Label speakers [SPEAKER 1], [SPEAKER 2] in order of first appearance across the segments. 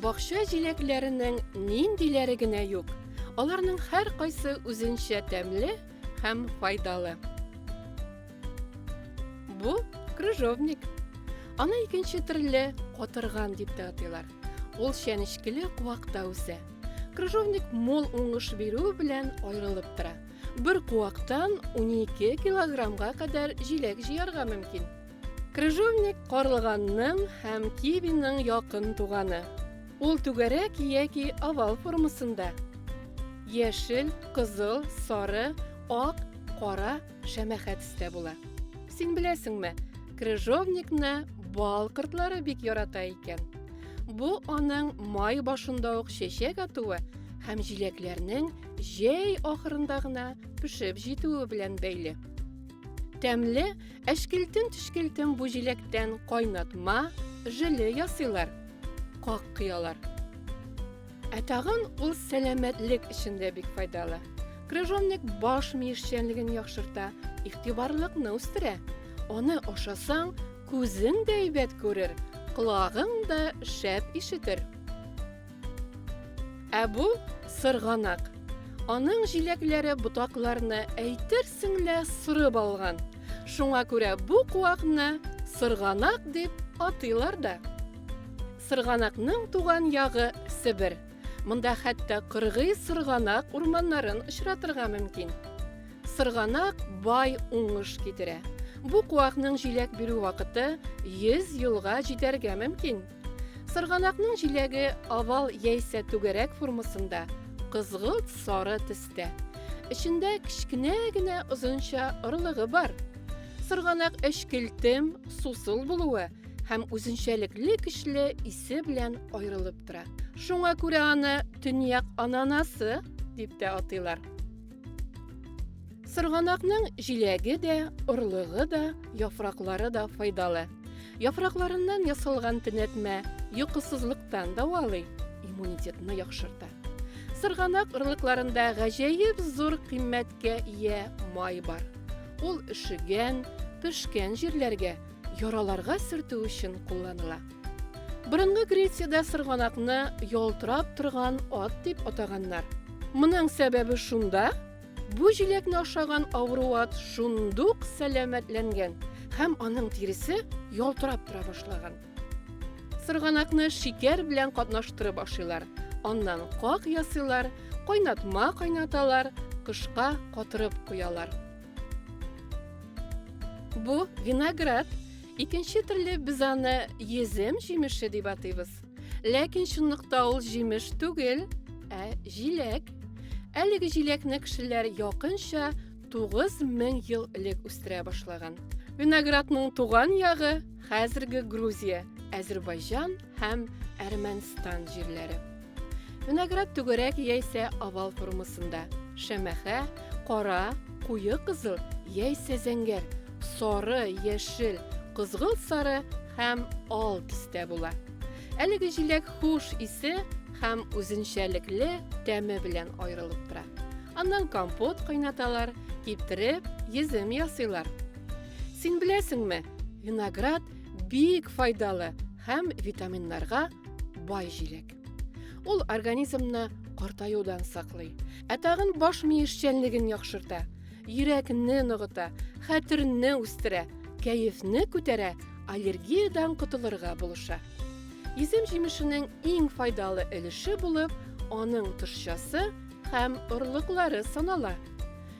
[SPEAKER 1] Бакча җиләкләренең ниндиләре генә юк. Аларның һәркайсы үзенчә тәмле һәм файдалы. Бу крыжовник. Аны икенче төрле котырган дип тә атыйлар. Ул чәнечкеле куакта үсә. Крыжовник мул уңыш бирү белән аерылып тора. Бер куактан 12 килограммга кадәр җиләк җыярга мөмкин. Крыжовник карлыганның һәм кивиның якын туганы. Ул түгәрәк яки овал формасында. Яшел, кызыл, сары, ак, кара шәмәхә төстә була. Син беләсеңме, крыжовникны бал кортлары бик ярата икән. Бу аның май башында ук чәчәк атуы һәм җиләкләрнең җәй ахырында гына пешеп җитүе белән бәйле. Тәмле, әшкелтем-төшкелтем бу җиләктән кайнатма, жиле ясыйлар, как кыялар. Ә тагын ул сәламәтлек өчен дә бик файдалы. Крыжовник баш ми эшчәнлеген яхшырта, игътибарлыкны үстерә. Аны ашасаң, күзең дә әйбәт күрер, колагың да шәп ишетер. Ә бу сырганак. Аның җиләкләре ботакларны әйтерсең лә сырып алган. Шуңа күрә бу куакны сырганак дип атыйлар да. Сырганакның туган ягы Себер. Монда хәтта кыргый сырганак урманнарын очратырга мөмкин. Сырганак бай уңыш китерә. Бу куакның җиләк бирү вакыты 100 елга җитәргә мөмкин. Сырганакның җиләге овал яисә түгәрәк формасында, кызгылт сары төстә. Эчендә кечкенә генә озынча орлыгы бар. Сырганак эчкелтем, сусыл булуы һәм үзенчәлекле көчле исе белән аерылып тора. Шуңа күрә аны төньяк ананасы дип тә атыйлар. Сырганакның җиләге дә, орлыгы да, яфраклары да файдалы. Яфракларыннан ясалган төнәтмә йокысызлыктан давалый, иммунитетны яхшырта. Сырганак орлыкларында гаҗәеп зур кыйммәткә ия май бар. Ул өшегән, пешкән җирләргә яраларга сөртү өчен кулланыла. Борынгы Грециядә сырганакны ялтырап торган ат дип атаганнар. Моның сәбәбе шунда, бу җиләкне ашаган авыру ат шундук сәламәтләнгән һәм аның тиресе ялтырап тора башлаган. Сырганакны шикәр белән катнаштырып ашыйлар, аннан как ясыйлар, кайнатма кайнаталар, кышка катырып куялар. Бу виноград. Икенче төрле без аны езем җимеше дип атыйбыз. Ләкин чынлыкта ул җимеш түгел, ә җиләк. Әлеге җиләкне кешеләр якынча 9000 ел элек үстерә башлаган. Виноградның туган ягы хәзерге Грузия, Әзербайҗан һәм Әрмәнстан җирләре. Виноград түгәрәк яисә овал формасында. Шәмәхә, кара, куе кызыл яисә зәңгәр, сары, яшел, кызгылт сары һәм ал төстә була. Әлеге җиләк хуш исе һәм үзенчәлекле тәме белән аерылып тора. Аннан компот кайнаталар, киптереп, йөзем ясыйлар. Син беләсеңме, виноград Бик файдалы һәм витаминнарга бай җиләк. Ул организмны картаюдан саклый, ә тагын баш мие эшчәнлеген яхшырта, йөрәкне ныгыта, хәтерне үстерә, кәефне күтәрә, аллергиядән котылырга булыша. Исем җимешенең иң файдалы өлеше булып, аның тышчасы һәм орлыклары санала.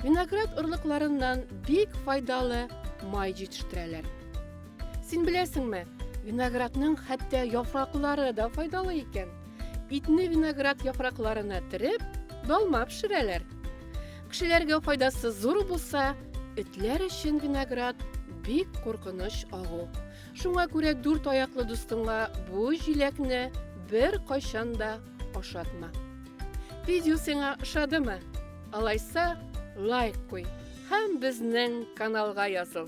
[SPEAKER 1] Виноград орлыкларыннан бик файдалы май җитештерәләр. Син беләсеңме, виноградның хәтта яфраклары да файдалы икән. Итне виноград яфракларына тереп, долма пешерәләр. Кешеләргә файдасы зур булса, этләр өчен виноград бик куркыныч агу. Шуңа күрә дүрт аяклы дустыңа бу җиләкне бер кайчан да ашатма. Видео сиңа ошадымы? Алайса, лайк куй һәм безнең каналга языл.